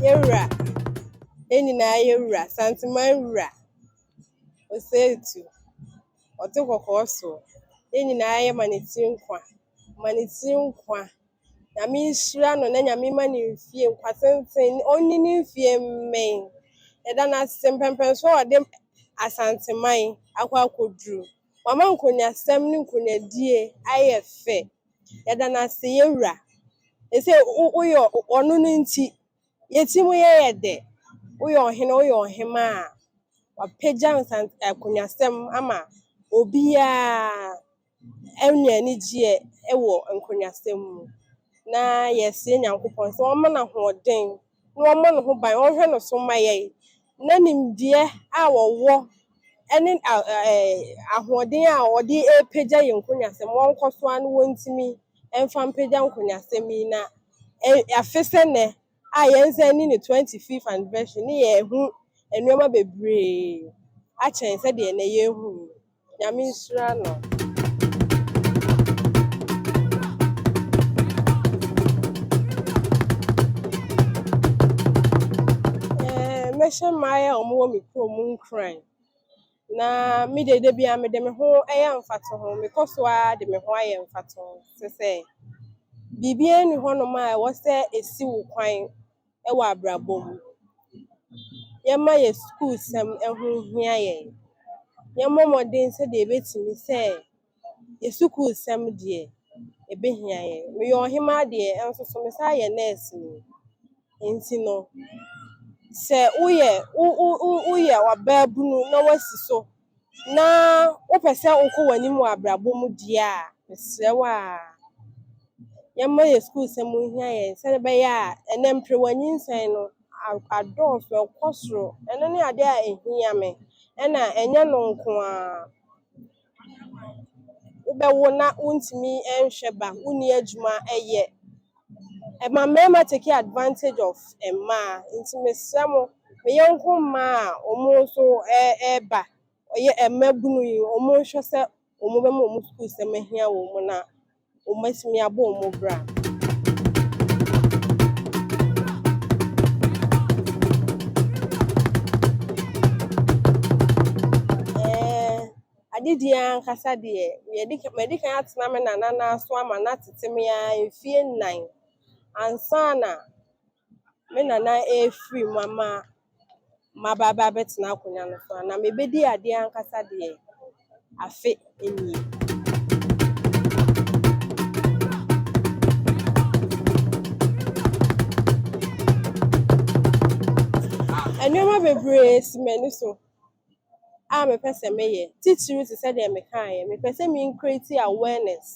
Yɛwura, yɛn nyinaa yɛwura, Santeman wura, Osetu, ɔte kɔkɔɔ so, yɛn nyinaa yɛma ne ti nkwa, ma ne ti nkwa. Nyame nhyira no na Nyame mma no mfie nkwa tenten, ɔnni ne mfie mmɛn. Yɛda no ase mpɛnpɛnsoɔ a ɔde Asanteman akɔ akɔduru. Wama nkonyasɛm ne nkonyadie ayɛ fɛ. Yɛda no ase yɛn wura. Seisei woyɛ ɔno no nti yɛn ti mu yɛ yɛ dɛ. Woyɛ ɔhene woyɛ ɔhemaa. Wapagya nkonyasɛm ama obiara. Anya anigyeɛ wɔ nkonyasɛm mu, na yɛsrɛ Nyankopɔn sɛ ɔmma no ahoɔden na ɔmmɔ ne ho ban, ɔnhwɛ ne so mma yɛn, na nimdeɛ a ɔwɔ ne ahoɔden a ɔde repagya yɛn nkonyasɛm no, wɔnkɔ so ara na wɔntumi mfa mpagya nkonyasɛm yi na afe sɛ nnɛ a yɛnsan ni ne 25th anniversary no yɛahu nneɛma bebree akyɛn sɛdeɛ nnɛ yɛrehu yi. Nyame nhyira no. Ɛɛ, mɛhyɛ mmaeɛ a wɔwɔ me kurom mu nkuran. Na me deɛ da biara mede me ho yɛ mfatoho. Mekɔ so ara de me ho ayɛ mfatoho te sɛ biribiara nni hɔnom a ɛwɔ sɛ ɛsi wo kwan. wɔ abrabɔ mu. Yɛmma yɛn sukuusɛm ho nhia yɛn. Yɛmmɔ mmɔden sɛdeɛ yɛbɛtumi sɛ yɛn sukuusɛm deɛ, ɛbɛhia yɛn. Meyɛ ɔhemaa deɛ, nso so mesan yɛ nɛɛseni. Nti no, sɛ woyɛ wo wo wo woyɛ ɔbaabunu na woasi so. na wopɛ sɛ wokɔ w'anim wɔ abrabɔ mu deɛ a, mesrɛ wo a, yɛmma yɛn sukuusɛm nhia yɛn sɛdeɛ ɛbɛyɛ a ɛnnɛ mpere wɔ anyinsɛn no adɔɔso, ɛkɔ soro. Ɛno ne adeɛ a ɛhia me ɛna ɛnyɛ no nko ara. Wobɛwo na wontumi nhwɛ ba, wonni adwuma yɛ. Ɛma mmarima take advantage of mmaa nti mesrɛ mo me yɔnko mmaa a wɔn nso ɛreba ɔyɛ mmabunu yi wɔn nhwɛ sɛ wɔn bɛma wɔn sukuu sɛm ahia wɔn na wɔn atumi abɔ wɔn bra. Adedie ara ankasa deɛ, yɛdi ka madi kan atena me nana nan so ama no atete me ara mfeɛ nnan ansa na me nana refiri mu ama maba aba abɛtena akonnwa no so. Na mebɛdi adeɛ ankasa deɛ, afe nie. Nneɛma bebree si m'ani so. a mepɛ sɛ meyɛ titiriw te sɛ deɛ mekaeɛ yi, mepɛ sɛ me create awareness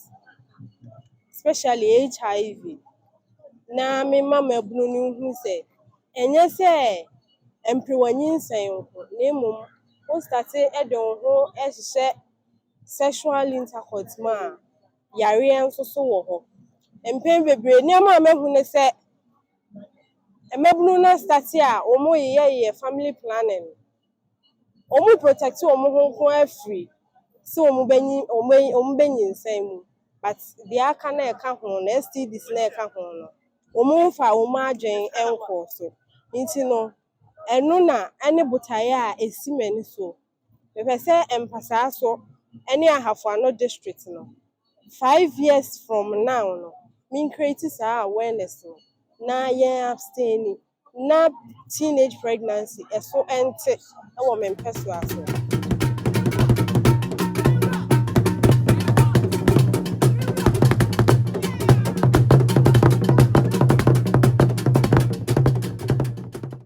especially HIV na mema mmabunu no nhu sɛ ɛnyɛ sɛ ɛmpere w'anyinsɛn nko na mmom wo start de wo ho hyehyɛ sexual intercourse mu a, yareɛ nso so wɔ hɔ. Mpɛn bebree nneɛma a mahu ne sɛ, Mmabunu no start a wɔn yeyɛ yɛ family planning no, wɔn protect wɔn ho nko ara firi sɛ wɔn bɛ nyi wɔn bɛ wɔn bɛ nyinsɛn mu but deɛ aka no a ɛka ho no STDs no a ɛka ho no wɔn mfa wɔn adwene nkɔ so nti no ɛno na ɛne botaeɛ a ɛsi m'ani soɔ. Mepɛ sɛ Mpasaso ne Ahafoano district no five years from now no me create saa awareness no na yɛn abstain na teenage pregnancy ɛso ɛnte wɔ me mpɛsoa so.